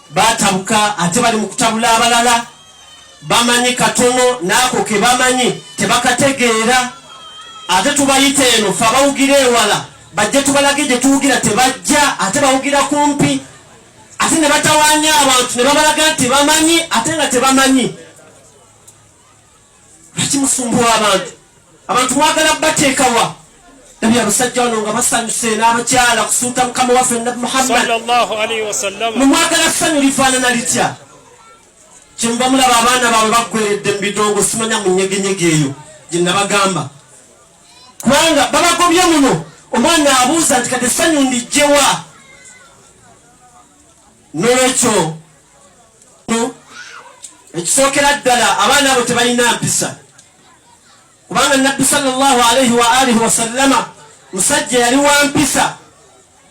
batabuka ate bali mu kutabula abalala bamanyi katono naako ke bamanyi tebakategeera ate tubayita eno fe abawugira ewala bajja tubalage gye tuwugira tebajja ate bawugira kumpi ate ne batawanya abantu ne babalaga nti bamanyi ate nga tebamanyi ekimusumbuwa abantu abantu bagala bateekawa nabi abasajja wano nga basanyuse n'abakyala kusuuta mukama waffe nabi muhammadmumwagala ssanyu lifaanana litya kyemuba mulaba abaana baabwe baggweredde mu bidongo simanya mu nyegenyege eyo gye nabagamba kubanga babagobye muno omwana abuuza nti kati essanyu ndijjewa nolwekyo ekisookera ddala abaana abo tebalina mpisa kubanga nabbi salllah alaihi wa alihi wasallama musajja yali wa mpisa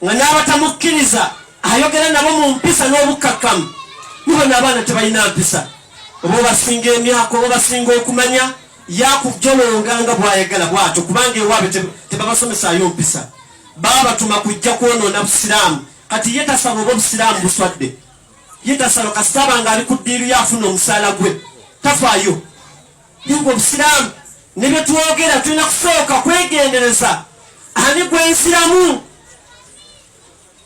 nga n'abatamukkiriza ayogera nabo mu mpisa n'obukkakkamu nibona abaana tebalina mpisa oba obasinga emyaka oba obasinga okumanya yakujolonga nga bwayagala bwatyo kubanga ewaabe tebabasomesayo mpisa babatuma kujja kwonoona busiraamu kati ye tasaba oba obusiraamu buswadde ye tasaba kasita aba nga ali ku ddiiru ye afuna omusaala gwe tafaayo ye nga obusiraamu ne bye twogera tulina kusooka kwegendereza ani gwensiramu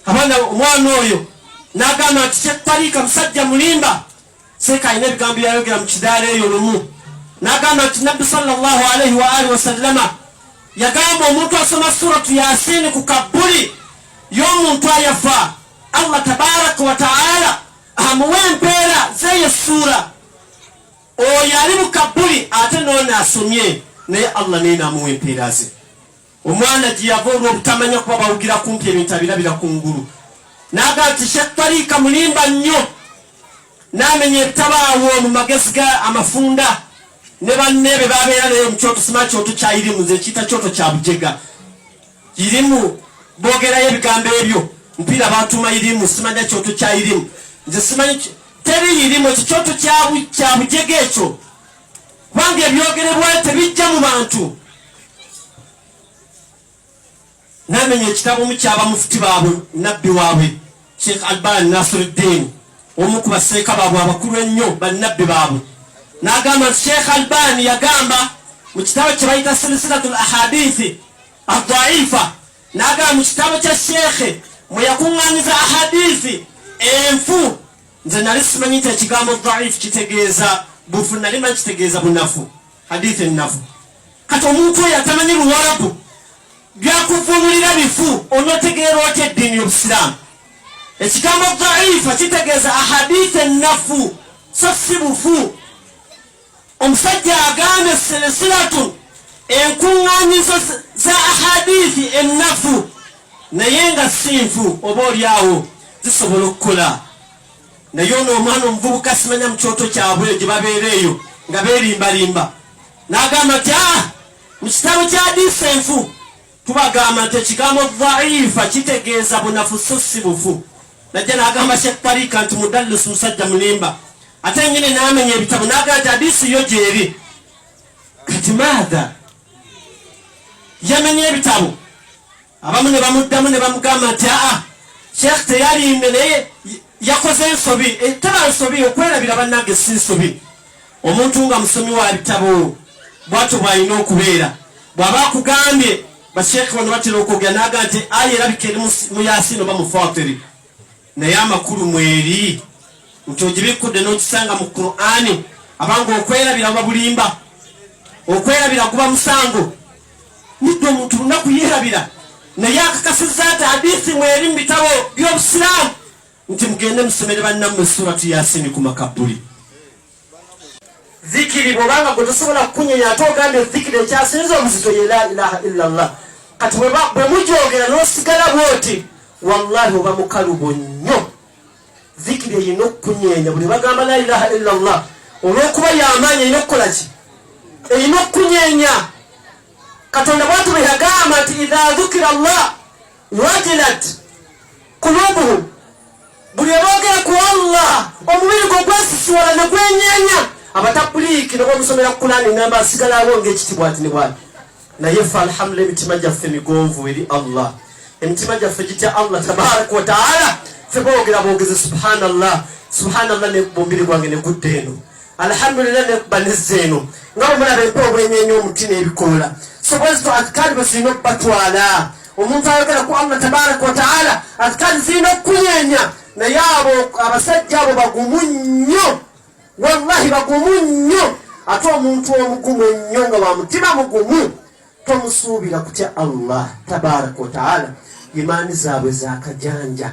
abaana omwana oyo n'agamba nti kyetaliika musajja mulimba seeka alina ebigambo byeyayogera mu kidaala eyo lumu nagamba nti nabbi salllah alaihi waalihi wasallama yagamba omuntu asoma suratu yasini ku kabbuli y'omuntu ayafa allah tabaraka wataala amuwa empeera zeyo suura oyo ali mu kabbuli ate noona asomye naye allah naye namuwa empeera ze Omwana gye yava olw'obutamanya kuba bawugira kumpi ebintu abirabira ku ngulu n'agamba nti Sheikh Tariika mulimba nnyo n'amenya ebitabaawo mu magezi ga amafunda ne banne be babeera naye mu kyoto sima kyoto kya irimu nze kiyita kyoto kya bujega irimu boogerayo ebigambo ebyo mpiira batuma irimu simanya kyoto kya irimu nze simanyi teri irimu ekyo kyoto kya bujega ekyo kubanga ebyogerebwa tebijja mu bantu namenya ekitabo omu kyaba mufuti baabwe nabbi waabwe sheikh alban nasiruddin omu ku baseeka baabwe abakulu ennyo bannabbi baabwe nagamba nti sheikh alban yagamba mu kitabo kye bayita silsilatu l ahadithi adaifa nagamba mu kitabo kya sheikhe mwe yakuŋŋanyiza ahadithi enfu nze nali simanyi nti ekigambo dhaif kitegeeza bufu nali manyi kitegeeza bunafu hadith ennafu kati omuntu oyo atamanyi luwarabu byakuvunulira bifu onotegeera otya eddiini y'obusiraamu ekigambo dhaifa kitegeeza ahadith ennafu so si bufu Omusajja agambye silisilatu enkuŋŋaanyizo za ahadithi ennafu naye nga si nfu oba olyawo zisobola okukola naye ono omwana omuvubuka simanya mu kyoto kyabwe gye babeera eyo nga beerimbalimba n'agamba nti a ah, mu kitabo kya hadithi enfu Tubagamba nti ekigambo dhaifa kitegeeza bunafu so si bufu. Najja n'agamba Sheikh Tariika nti mudallis musajja mulimba, ate yennyini n'amenya ebitabo n'agamba nti hadiisi yo gyeri. Kati maadha yamenya ebitabo, abamu ne bamuddamu ne bamugamba nti aa Sheikh teyalimbye naye yakoze ensobi, etaba eh, nsobi okwerabira bannange si nsobi. Omuntu nga musomi wa bitabo bwatyo bw'alina okubeera. Bw'aba akugambye basheekhe bano batera okwogera n'aga nti aya erabika eri mu Yaasiin oba mu Faatiri, naye amakulu mweri nti ogibikkudde n'ogisanga mu Kuraani abanga okwerabira buba bulimba. Okwerabira guba musango. Nidde omuntu lunaku yeerabira naye akakasizza nti hadiisi mweri mu bitabo by'Obusiraamu nti mugende musomere bannammwe suratu yasini ku makabbuli zikiri bwobanga gwe tosobola kukunyenya ate ogambye zikiri ekyasinza obuzito ye la ilaha illa llah kati bwe mujogera nosigala bwoti wallahi oba mukalubo nnyo zikiri eyina okukunyenya buli bagamba la ilaha illa llah olwokuba yamaanyi erina okukola ki erina okukunyenya katonda bwatubeyagamba nti idha dhukira llah wajilat kulubuhum buli aboogera ku allah omubiri gwe gwesisiwala ne gwenyanya abatabuliiki ne bamusomera ku kulaani ngamba asigalawo ng'ekitibwa ati ne bwati naye fe alhamdulila emitima gyaffe migonvu eri allah emitima gyaffe gitya allah tabaraka wataala fe boogera boogeze subhanallah subhanallah ne mubiri gwange ne gudda eno alhamdulillah nekuba nezza eno nga omulaba empa obwenyenye omuti n'ebikoola so bwezito azikaali bwe zirina okubatwala omuntu ayogera ku allah tabaraka wataala azikaali zirina okukunyenya naye abo abasajja abo bagumu nnyo wallahi bagumu nnyo ate omuntu omugumu ennyo nga wa mutima mugumu tomusuubira kutya allah tabaraka wataala imaani zaabwe zakajanja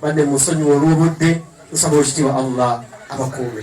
Banne musonyiwa olw'obudde, nsaba Owekitiibwa Allah abakuume.